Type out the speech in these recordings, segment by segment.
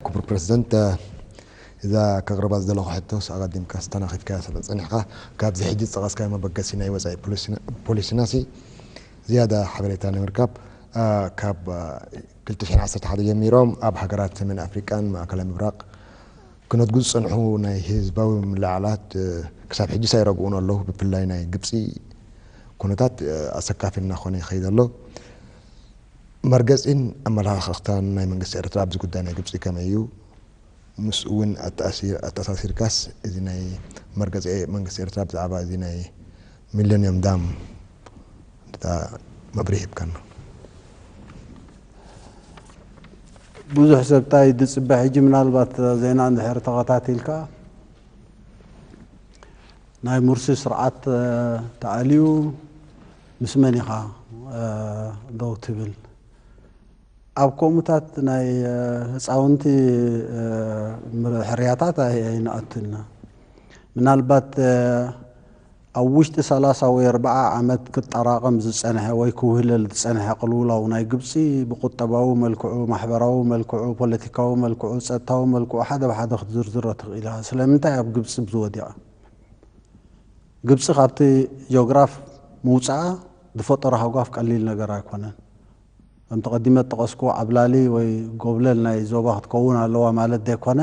ክቡር ፕረሲደንት፣ እዛ ከቕርባ ዝደለኹ ሕቶስ ኣቐዲምካስ ተናኺፍካያ ስለ ዝጸኒሕካ፣ ካብዚ ሕጂ ዝጠቐስካዮ መበገሲ ናይ ወጻኢ ፖሊሲናሲ ዝያዳ ሓበሬታ ንምርካብ፣ ካብ ክልተ ሽሕን ዓሰርተ ሓደን ጀሚሮም ኣብ ሃገራት ሰሜን ኣፍሪቃን ማእከላይ ምብራቕ ክነድጉ ዝጸንሑ ናይ ህዝባዊ ምልዕዓላት ክሳብ ሕጂስ ኣይረግኡን ኣለዉ። ብፍላይ ናይ ግብጺ ኩነታት ኣሰካፊ እናኾነ ይኸይድ ኣሎ። መርገጺን ኣመለኻኽታን ናይ መንግስቲ ኤርትራ ኣብዚ ጉዳይ ናይ ግብጺ ከመይ እዩ? ምስኡ ውን ኣተኣሳሲርካስ እዚ ናይ መርገጺ መንግስቲ ኤርትራ ብዛዕባ እዚ ናይ ሚለንዩም ዳም እንተድኣ መብርሂ ሂብካና። ብዙሕ ሰብ ታይ እዩ ዝፅበ ሕጂ ምናልባት እዛ ዜና እንድሕር ተኸታቲልካ ናይ ሙርሲ ስርዓት ተኣልዩ ምስ መን ኢኻ ደው ትብል? ኣብ ከምኡታት ናይ ህጻውንቲ ሕርያታት ኣይንኣቱን። ምናልባት ኣብ ውሽጢ ሰላሳ ወይ ኣርብዓ ዓመት ክጠራቐም ዝጸንሐ ወይ ክውህለል ዝጸንሐ ቅልውላው ናይ ግብጺ ብቁጠባዊ መልክዑ፣ ማሕበራዊ መልክዑ፣ ፖለቲካዊ መልክዑ፣ ጸጥታዊ መልክዑ ሓደ ብሓደ ክትዝርዝሮ ትኽእል ኢኻ። ስለምንታይ ኣብ ግብጺ ዝወደቐ? ግብጺ ካብቲ ጂኦግራፍ ምውጻኣ ዝፈጠሮ ሃጓፍ ቀሊል ነገር ኣይኮነን። ከምቲ ቀዲመ ዝጠቐስኩዎ ዓብላሊ ወይ ጎብለል ናይ ዞባ ክትከውን ኣለዋ ማለት ዘይኮነ፣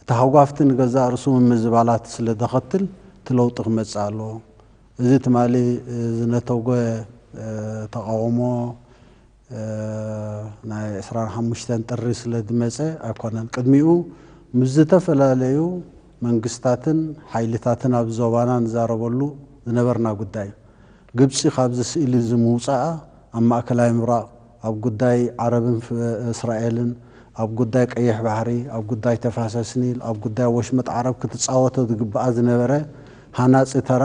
እቲ ሃጓፍ'ቲ ንገዛእ ርእሱ ምምዝባላት ስለ ዘኸትል እቲ ለውጢ ክመጽእ ኣለዎ። እዚ ትማሊ ዝነተጐ ተቓውሞ፣ ናይ ዕስራን ሓሙሽተን ጥሪ ስለ ዝመጸ ኣይኮነን፣ ቅድሚኡ ምስ ዝተፈላለዩ መንግስታትን ሓይልታትን ኣብ ዞባና ንዛረበሉ ዝነበርና ጉዳይ እዩ። ግብጺ ካብዚ ስእሊ እዚ ምውጻኣ ኣብ ማእከላይ ምብራቕ፣ ኣብ ጉዳይ ዓረብን እስራኤልን፣ ኣብ ጉዳይ ቀይሕ ባሕሪ፣ ኣብ ጉዳይ ተፋሰስ ኒል፣ ኣብ ጉዳይ ወሽመጥ ዓረብ ክትጻወቶ ዝግብኣ ዝነበረ ሃናጺ ተራ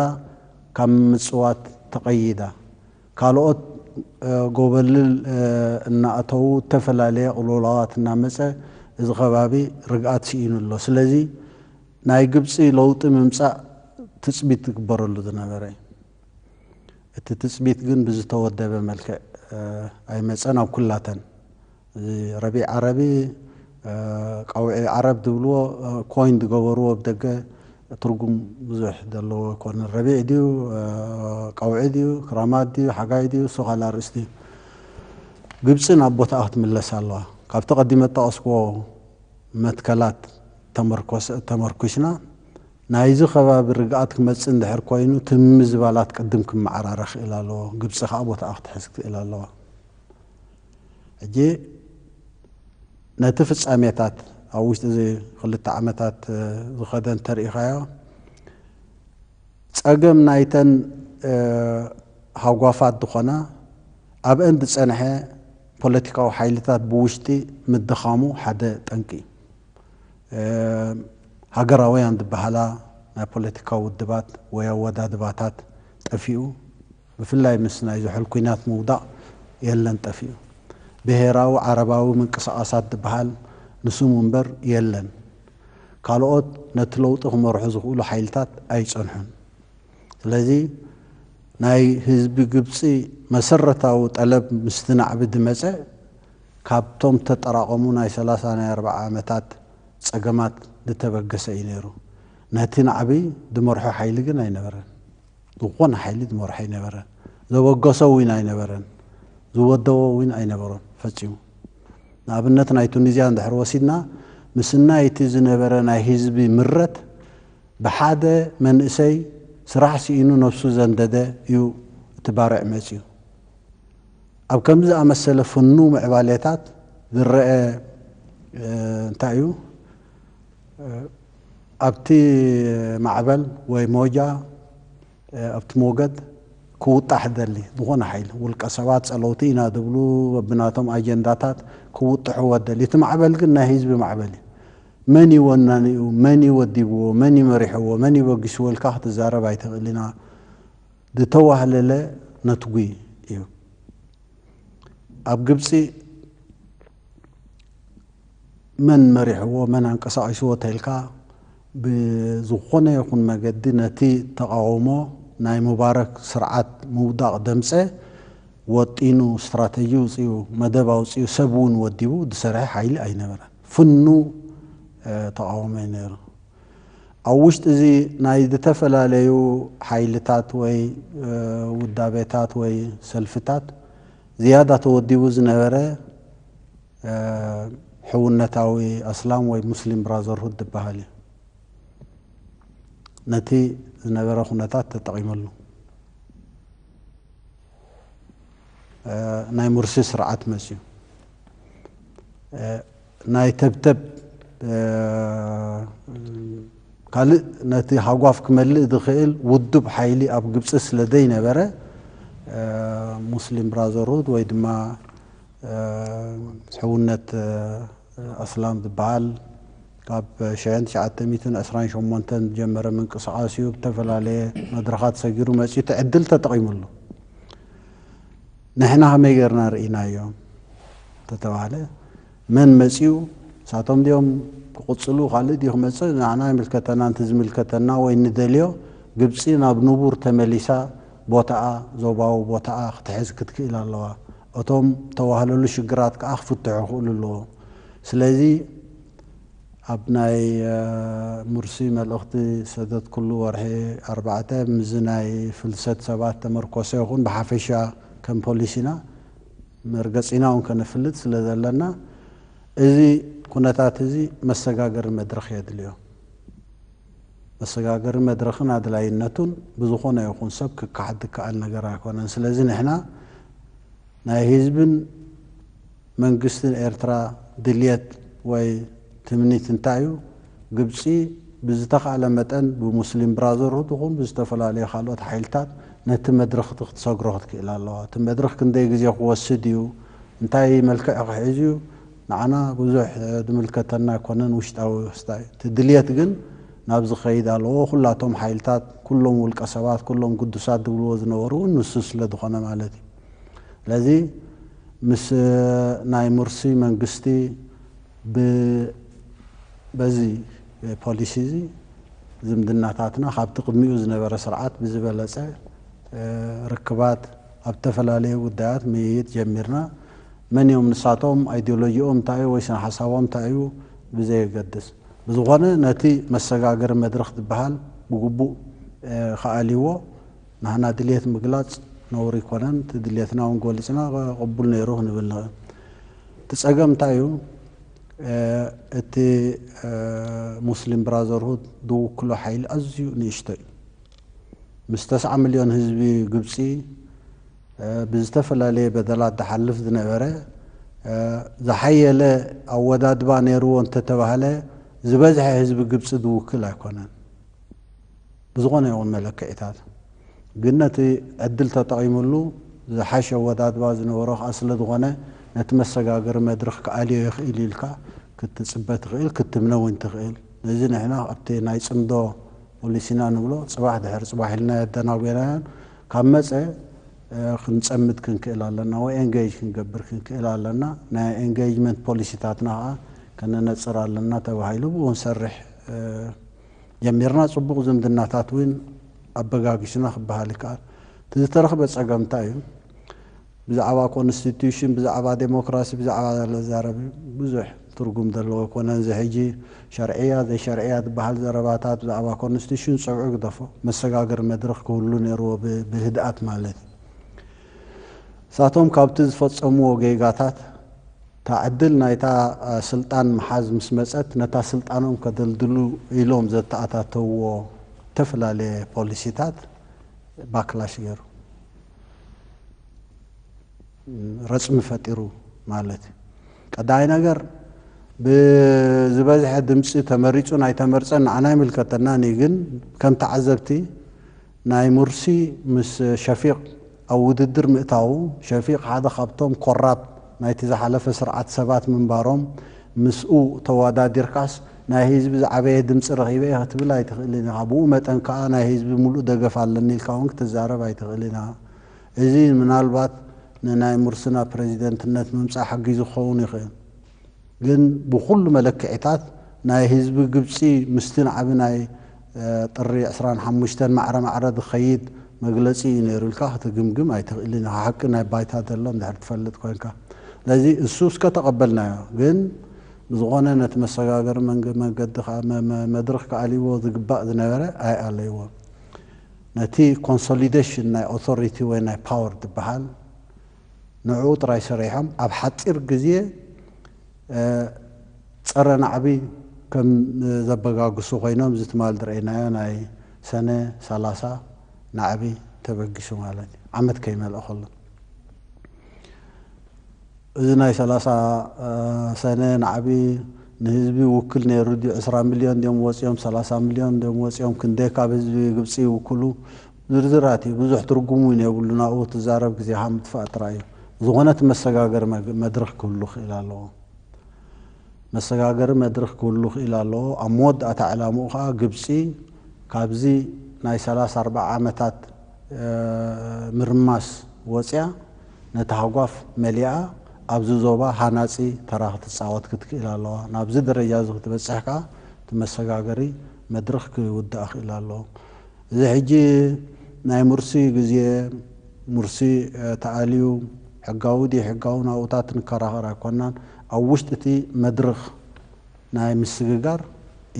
ካብ ምጽዋት ተቐይዳ። ካልኦት ጎበልል እናኣተዉ እተፈላለየ ቅልውላዋት እናመጸ እዚ ከባቢ ርግኣት ስኢኑ ኣሎ። ስለዚ ናይ ግብጺ ለውጢ ምምጻእ ትጽቢት ዝግበረሉ ዝነበረ እዩ። እቲ ትጽቢት ግን ብዝተወደበ መልክዕ ኣይመጸን ኣብ ኩላተን። እዚ ረቢዕ ዓረቢ ቀውዒ ዓረብ ዝብልዎ ኮይን ዝገበርዎ ብደገ ትርጉም ብዙሕ ዘለዎ ኣይኮነን ረቢዕ ድዩ ቀውዒ ድዩ ክራማት ድዩ ሓጋይ ድዩ እሱ ካልእ ኣርእስቲ እዩ ግብፂ ናብ ቦታኣ ክትምለስ ኣለዋ ካብቲ ቀዲመ ዝጠቐስክዎ መትከላት ተመርኲስና ናይዚ ከባቢ ርግኣት ክመፅእ እንድሕር ኮይኑ እቲ ምምዝባላት ቅድም ክመዓራረ ክኢል ኣለዎ ግብፂ ከዓ ቦታኣ ክትሕዝ ክኢል ኣለዋ ሕጂ ነቲ ፍጻሜታት ኣብ ውሽጢ እዚ ክልተ ዓመታት ዝኸደ እንተርኢኻዮ ጸገም ናይተን ሃጓፋት ዝኾና ኣብአን ዝጸንሐ ፖለቲካዊ ሓይልታት ብውሽጢ ምድኻሙ ሓደ ጠንቂ እዩ። ሃገራውያን ዝበሃላ ናይ ፖለቲካዊ ውድባት ወይ ኣወዳድባታት ጠፊኡ፣ ብፍላይ ምስ ናይ ዝሑል ኩናት ምውዳቕ የለን ጠፊኡ። ብሄራዊ ዓረባዊ ምንቅስቓሳት ዝብሃል ንስሙ እምበር የለን። ካልኦት ነቲ ለውጢ ክመርሑ ዝኽእሉ ሓይልታት ኣይጸንሑን። ስለዚ ናይ ህዝቢ ግብጺ መሰረታዊ ጠለብ ምስቲ ናዕቢ ዝመጸ ካብቶም ዝተጠራቐሙ ናይ ሰላሳ ናይ ኣርብዓ ዓመታት ጸገማት ዝተበገሰ እዩ ነይሩ። ነቲ ናዕቢ ዝመርሖ ሓይሊ ግን ኣይነበረን። ዝኾነ ሓይሊ ዝመርሖ ኣይነበረን። ዘበገሶ እውን ኣይነበረን። ዝወደቦ እውን ኣይነበሮን ፈጺሙ። ንኣብነት ናይ ቱኒዝያ እንድሕር ወሲድና ምስናይ እቲ ዝነበረ ናይ ህዝቢ ምረት ብሓደ መንእሰይ ስራሕ ስኢኑ ነብሱ ዘንደደ እዩ እቲ ባርዕ መጺኡ። ኣብ ከምዚ ዝኣመሰለ ፍኑው ምዕባሌታት ዝረኣ እንታይ እዩ? ኣብቲ ማዕበል ወይ ሞጃ ኣብቲ ሞገድ ክውጣሕ ደሊ ዝኾነ ሓይሊ ውልቀ ሰባት ጸለውቲ ኢና ድብሉ በብናቶም ኣጀንዳታት ክውጥሕዎ ደሊ እቲ ማዕበል ግን ናይ ህዝቢ ማዕበል እዩ መን እዩ ወናኒኡ መን እዩ ወዲብዎ መን እዩ መሪሕዎ መን እዩ በጊስዎ ኢልካ ክትዛረብ ኣይትኽእል ኢና ዝተዋህለለ ነትጒ እዩ ኣብ ግብጺ መን መሪሕዎ መን ኣንቀሳቂስዎ ተልካ ብዝኾነ ይኹን መገዲ ነቲ ተቃውሞ ናይ ሙባረክ ስርዓት ምውዳቅ ደምጸ ወጢኑ ስትራተጂ ውጺኡ መደብ ኣውጺኡ ሰብ ውን ወዲቡ ድሰርሐ ሓይሊ ኣይነበረን ፍኑ ተቃውሞዩ ነሩ ኣብ ውሽጢ እዚ ናይ ድተፈላለዩ ሓይልታት ወይ ውዳቤታት ወይ ሰልፍታት ዝያዳ ተወዲቡ ዝነበረ ሕውነታዊ ኣስላም ወይ ሙስሊም ብራዘርሁድ ዝበሃል እዩ ነቲ ዝነበረ ኩነታት ተጠቒመሉ ናይ ሙርሲ ስርዓት መፅዩ ናይ ተብተብ ካልእ ነቲ ሃጓፍ ክመልእ ዝኽእል ውዱብ ሓይሊ ኣብ ግብፂ ስለ ዘይነበረ ሙስሊም ብራዘርሁድ ወይ ድማ ሕውነት ኣስላም ዝበሃል ካብ ሸሕን ትሽዓተ ሚእትን ዕስራን ሸሞንተን ዝጀመረ ምንቅስቓስ እዩ። ብተፈላለየ መድረኻት ሰጊሩ መጺኡ እቲ ዕድል ተጠቒሙሉ። ንሕና ከመይ ጌርና ርኢናዮ እንተተባህለ መን መጺኡ ንሳቶም ድዮም ክቕጽሉ ካልእ ድዩ ክመጽእ ንዓና ይምልከተና ንቲ ዝምልከተና ወይ ንደልዮ ግብጺ ናብ ንቡር ተመሊሳ ቦታኣ ዞባዊ ቦታኣ ክትሕዝ ክትክእል ኣለዋ። እቶም ዝተዋህለሉ ሽግራት ከኣ ክፍትሑ ክኽእሉ ኣለዎም። ስለዚ ኣብ ናይ ሙርሲ መልእኽቲ ዝሰደትኩሉ ወርሒ ኣርባዕተ ምስዚ ናይ ፍልሰት ሰባት ተመርኮሰ ይኹን ብሓፈሻ ከም ፖሊሲና መርገጺና እውን ከነፍልጥ ስለ ዘለና እዚ ኩነታት እዚ መሰጋገሪ መድረኽ የድልዮ። መሰጋገሪ መድረኽን ኣድላይነቱን ብዝኾነ ይኹን ሰብ ክከሓድ ዝከኣል ነገር ኣይኮነን። ስለዚ ንሕና ናይ ህዝብን መንግስትን ኤርትራ ድልየት ወይ ትምኒት እንታይ እዩ? ግብጺ ብዝተኻእለ መጠን ብሙስሊም ብራዘርሁድ ይኹን ብዝተፈላለዩ ካልኦት ሓይልታት ነቲ መድረኽ እቲ ክትሰግሮ ክትክእል ኣለዋ። እቲ መድረኽ ክንደይ ግዜ ክወስድ እዩ? እንታይ መልክዕ ክሕዝ እዩ? ንዓና ብዙሕ ድምልከተና ኣይኮነን ውሽጣዊ ክስታ እዩ እቲ ድልየት ግን ናብዚ ክኸይድ ኣለዎ ኩላቶም ሓይልታት ኩሎም ውልቀ ሰባት ኩሎም ግዱሳት ድብልዎ ዝነበሩ እውን ንሱ ስለ ድኾነ ማለት እዩ ስለዚ ምስ ናይ ሙርሲ መንግስቲ ብ በዚ ፖሊሲ እዚ ዝምድናታትና ካብቲ ቅድሚኡ ዝነበረ ስርዓት ብዝበለፀ ርክባት ኣብ እተፈላለየ ጕዳያት ምይይጥ ጀሚርና፣ መን እዮም ንሳቶም፣ ኣይድዮሎጂኦም እንታይ እዩ ወይ ስነ-ሓሳቦም እንታይ እዩ ብዘየገድስ። ብዝዀነ ነቲ መሰጋገሪ መድረኽ ዝበሃል ብግቡእ ኸኣልይዎ፣ ንሕና ድልየት ምግላጽ ነውሪ ኣይኰነን፣ እቲ ድልየትና እውን ገሊጽና ቅቡል ነይሩ ክንብል ንኽእል። እቲ ጸገም እንታይ እዩ፣ እቲ ሙስሊም ብራዘርሁድ ዝውክሎ ሓይሊ ኣዝዩ ንእሽቶ እዩ። ምስ ተስዓ ሚልዮን ህዝቢ ግብጺ ብዝተፈላለየ በደላት ዝሓልፍ ዝነበረ ዝሓየለ ኣወዳድባ ነይርዎ እንተተባህለ ዝበዝሐ ህዝቢ ግብጺ ዝውክል ኣይኮነን ብዝኾነ ይኹን መለክዒታት። ግን ነቲ ዕድል ተጠቒምሉ ዝሓሸ ኣወዳድባ ዝነበሮ ከኣ ስለዝኾነ ነቲ መሰጋገሪ መድርኽ ክኣልዮ ይኽእል'ዩ ኢልካ ክትጽበ ትኽእል ክትምነ እውን ትኽእል። ነዚ ንሕና ኣብቲ ናይ ጽምዶ ፖሊሲ ኢና ንብሎ ጽባሕ ድሕሪ ጽባሕ ኢልና የደናጉየናዮን ካብ መጸ ክንጸምድ ክንክእል ኣለና ወይ ኤንገይጅ ክንገብር ክንክእል ኣለና ናይ ኤንገይጅመንት ፖሊሲታትና ከኣ ከነነጽር ኣለና ተባሂሉ ብኡ ክንሰርሕ ጀሚርና ጽቡቕ ዝምድናታት እውን ኣበጋጊሱና ክበሃል ይከኣል እቲ ዝተረኽበ ጸገም እንታይ እዩ ብዛዕባ ኮንስቲቱሽን ብዛዕባ ደሞክራሲ ብዛዕባ ዘሎ ዝዛረብ ብዙሕ ትርጉም ዘለዎ ኣይኮነን እዚ ሕጂ ሸርዕያ ዘይሸርዕያ ዝባሃል ዘረባታት ብዛዕባ ኮንስቲቱሽን ጸብዑ ግደፎ መሰጋገሪ መድረኽ ክህሉ ነይርዎ ብህድኣት ማለት እዩ ንሳቶም ካብቲ ዝፈጸምዎ ጌጋታት እታ ዕድል ናይታ ስልጣን ምሓዝ ምስ መጸት ነታ ስልጣኖም ከደልድሉ ኢሎም ዘተኣታተውዎ እተፈላለየ ፖሊሲታት ባክላሽ ገይሩ። ረፅሚ ፈጢሩ ማለት እዩ። ቀዳማይ ነገር ብዝበዝሐ ድምፂ ተመሪፁን ኣይተመርፀን ንዓና ኣይምልከተናን እዩ፣ ግን ከም ተዓዘብቲ ናይ ሙርሲ ምስ ሸፊቅ ኣብ ውድድር ምእታዉ ሸፊቅ ሓደ ካብቶም ኮራፕት ናይቲ ዝሓለፈ ስርዓት ሰባት ምንባሮም ምስኡ ተዋዳዲርካስ ናይ ህዝቢ ዝዓበየ ድምጺ ረኺበ እየ ክትብል ኣይትኽእልን ኢኻ። ብኡ መጠን ከኣ ናይ ህዝቢ ምሉእ ደገፍ ኣለኒ ኢልካ እውን ክትዛረብ ኣይትኽእልን ኢኻ። እዚ ምናልባት ንናይ ሙርሲና ፕረዚደንትነት ምምጻእ ሓጊዙ ክኸውን ይኽእል። ግን ብኹሉ መለክዒታት ናይ ህዝቢ ግብጺ ምስቲ ናዕቢ ናይ ጥሪ ዕስራን ሓሙሽተን ማዕረ ማዕረ ዝኸይድ መግለጺ እዩ ነይሩ ኢልካ ክትግምግም ኣይትኽእልን ኢኻ ሓቂ ናይ ባይታ ዘሎ እንድሕር ትፈልጥ ኮንካ ስለዚ እሱ እስከ ተቐበልናዮ ግን ብዝኾነ ነቲ መሰጋገሪ መንገዲ መድርኽ ክኣልይዎ ዝግባእ ዝነበረ ኣይኣለይዎን ነቲ ኮንሶሊደሽን ናይ ኦቶሪቲ ወይ ናይ ፓወር ዝበሃል ንዕኡ ጥራይ ሰሪሖም ኣብ ሓጺር ግዜ ጸረ ናዕቢ ከም ዘበጋግሱ ኮይኖም እዚ ትማል ዝረኣናዮ ናይ ሰነ ሰላሳ ናዕቢ ተበጊሱ ማለት እዩ ዓመት ከይመልኦ ከሎ እዚ ናይ ሰላሳ ሰነ ናዕቢ ንህዝቢ ውክል ነይሩ ድዩ ዕስራ ሚልዮን ድዮም ወጺኦም ሰላሳ ሚልዮን ድዮም ወጺኦም ክንደይ ካብ ህዝቢ ግብጺ ይውክሉ ዝርዝራት እዩ ብዙሕ ትርጉም ውን የብሉን ኣብኡ ክትዛረብ ግዜኻ ምጥፋእ ጥራይ እዩ ዝኾነት መሰጋገሪ መድርኽ ክህሉ ክኢል ኣለዎ መሰጋገሪ መድርኽ ክህሉ ክኢል ኣለዎ ኣብ መወዳእታ ዕላምኡ ከኣ ግብጺ ካብዚ ናይ ሰላሳ ኣርብዓ ዓመታት ምርማስ ወጽያ ነቲ ሃጓፍ መሊኣ ኣብዚ ዞባ ሃናጺ ተራ ክትጻወት ክትክኢል ኣለዋ ናብዚ ደረጃ እዚ ክትበጽሕ ከኣ እቲ መሰጋገሪ መድርኽ ክውዳእ ክኢል ኣለዎ እዚ ሕጂ ናይ ሙርሲ ግዜ ሙርሲ ተኣልዩ ሕጋዊ ደይሕጋዊ ናብኡታት ንከራኸር ኣይኮናን ኣብ ውሽጢ እቲ መድርኽ ናይ ምስግጋር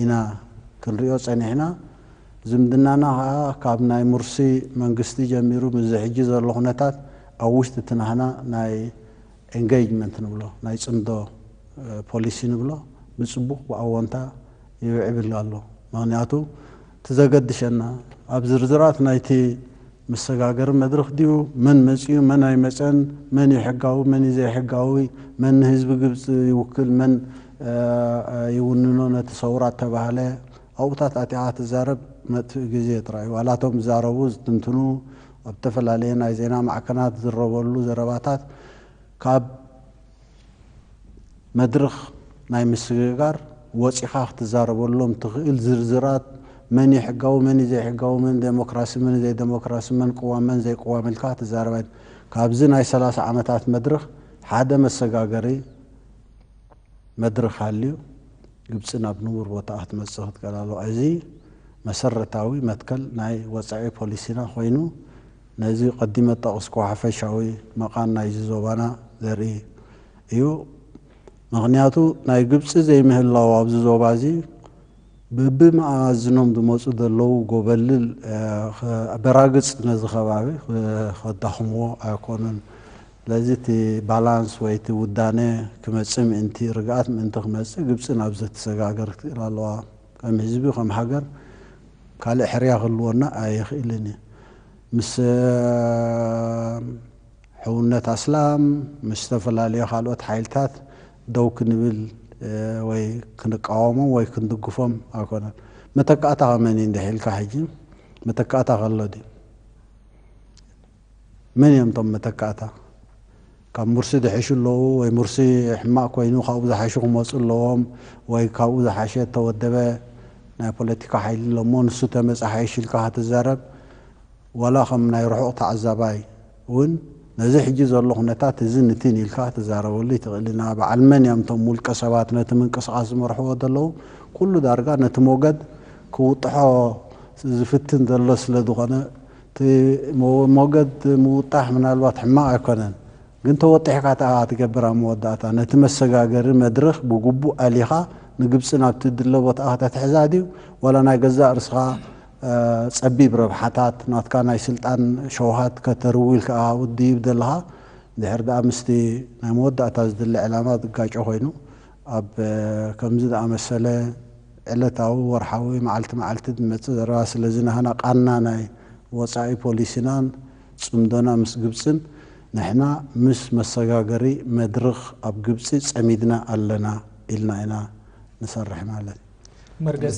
ኢና ክንሪኦ ጸኒሕና ዝምድናና ከኣ ካብ ናይ ሙርሲ መንግስቲ ጀሚሩ ምስዚ ሕጂ ዘሎ ኩነታት ኣብ ውሽጢ እቲ ናህና ናይ Engagement ንብሎ ናይ ጽምዶ ፖሊሲ ንብሎ ብጽቡቕ ብኣዎንታ ይውዕብል ኣሎ ምክንያቱ እቲ ዘገድሸና ኣብ ዝርዝራት ናይቲ መሰጋገሪ መድርኽ ድዩ፣ መን መጺኡ መን ኣይመጸን፣ መን እዩ ሕጋዊ መን እዩ ዘይሕጋዊ፣ መን ንህዝቢ ግብጺ ይውክል መን ይውንኖ ነቲ ሰውራ እተባህለ ኣብኡታት ኣቲኻ ትዛረብ መጥፍኢ ግዜ ጥራይ እዩ። ዋላ እቶም ዝዛረቡ ዝትንትኑ ኣብ እተፈላለየ ናይ ዜና ማዕከናት ዝዝረበሉ ዘረባታት ካብ። መድርኽ ናይ ምስግጋር ወጺኻ ክትዛረበሎም ትኽእል ዝርዝራት መን እዩ ሕጋዊ መን እዩ ዘይሕጋዊ መን ደሞክራሲ መን እዩ ዘይደሞክራሲ መን ቅዋም መን ዘይቅዋም ኢልካ ክትዛረብ ኣይ ካብዚ ናይ ሰላሳ ዓመታት መድርኽ ሓደ መሰጋገሪ መድርኽ ሃልዩ ግብጺ ናብ ንቡር ቦታኣ ክትመጽእ ክትከላሎ እዚ መሰረታዊ መትከል ናይ ወጻኢ ፖሊሲና ኮይኑ ነዚ ቀዲመ ዝጠቐስክዎ ሓፈሻዊ መቓን ናይዚ ዞባና ዘርኢ እዩ። ምኽንያቱ ናይ ግብጺ ዘይምህላው ኣብዚ ዞባዚ በብመኣዝኖም ዝመጹ ዘለዉ ጎበልል በራግጽ ነዚ ከባቢ ከዳኽምዎ ኣይኮኑን። ስለዚ እቲ ባላንስ ወይ እቲ ውዳነ ክመጽእ ምእንቲ፣ ርግኣት ምእንቲ ክመጽእ ግብጺ ናብዚ ክትሰጋገር ትክእል ኣለዋ። ከም ህዝቢ ከም ሃገር ካልእ ሕርያ ክህልወና ኣይኽእልን እዩ። ምስ ሕውነት ኣስላም ምስ ዝተፈላለዩ ካልኦት ሓይልታት ደው ክንብል ወይ ክንቃወሞም ወይ ክንድግፎም ኣይኮነን። መተካእታኻ መን እዩ እንድሕር ኢልካ ሕጂ መተካእታ ከሎ ድዩ? መን እዮም እቶም መተካእታ? ካብ ሙርሲ ድሐሹ ኣለዉ ወይ ሙርሲ ሕማቅ ኮይኑ ካብኡ ዝሓሹ ክመጹ ኣለዎም ወይ ካብኡ ዝሓሸ እተወደበ ናይ ፖለቲካ ሓይሊ ኣሎ እሞ ንሱ ተመጸ ሓይሽ ኢልካ ክትዛረብ ዋላ ከም ናይ ርሑቅ ተዓዛባይ ውን ነዚ ሕጂ ዘሎ ኩነታት እዝን እቲን ኢልካ ክትዛረበሉ ይትክእል ኢና በዓል መን እዮም እቶም ውልቀ ሰባት ነቲ ምንቅስቃስ ዝመርሕዎ ዘለዉ ኩሉ ዳርጋ ነቲ ሞገድ ክውጥሖ ዝፍትን ዘሎ ስለ ዝኮነ እቲ ሞገድ ምውጣሕ ምናልባት ሕማቕ ኣይኮነን፣ ግን ተወጢሕካ ተኣ ትገብር ኣብ መወዳእታ ነቲ መሰጋገሪ መድርኽ ብግቡእ ኣሊኻ ንግብጺ ናብቲ ድለ ቦትኣ ከተትሕዛ ድዩ ዋላ ናይ ገዛእ ርስኻ ጸቢብ ረብሓታት ናትካ ናይ ስልጣን ሸውሃት ከተርዊ ኢልካኣ ውድይብ ዘለኻ እንድሕር ደኣ ምስቲ ናይ መወዳእታ ዝድለ ዕላማ ዝጋጮ ኮይኑ ኣብ ከምዚ ዝኣመሰለ ዕለታዊ፣ ወርሓዊ፣ መዓልቲ መዓልቲ ዝመጽእ ዘረባ ስለዚ ናህና ቃና ናይ ወጻኢ ፖሊሲናን ጽምዶና ምስ ግብጽን ንሕና ምስ መሰጋገሪ መድርኽ ኣብ ግብጺ ጸሚድና ኣለና ኢልና ኢና ንሰርሕ ማለት መርገጺ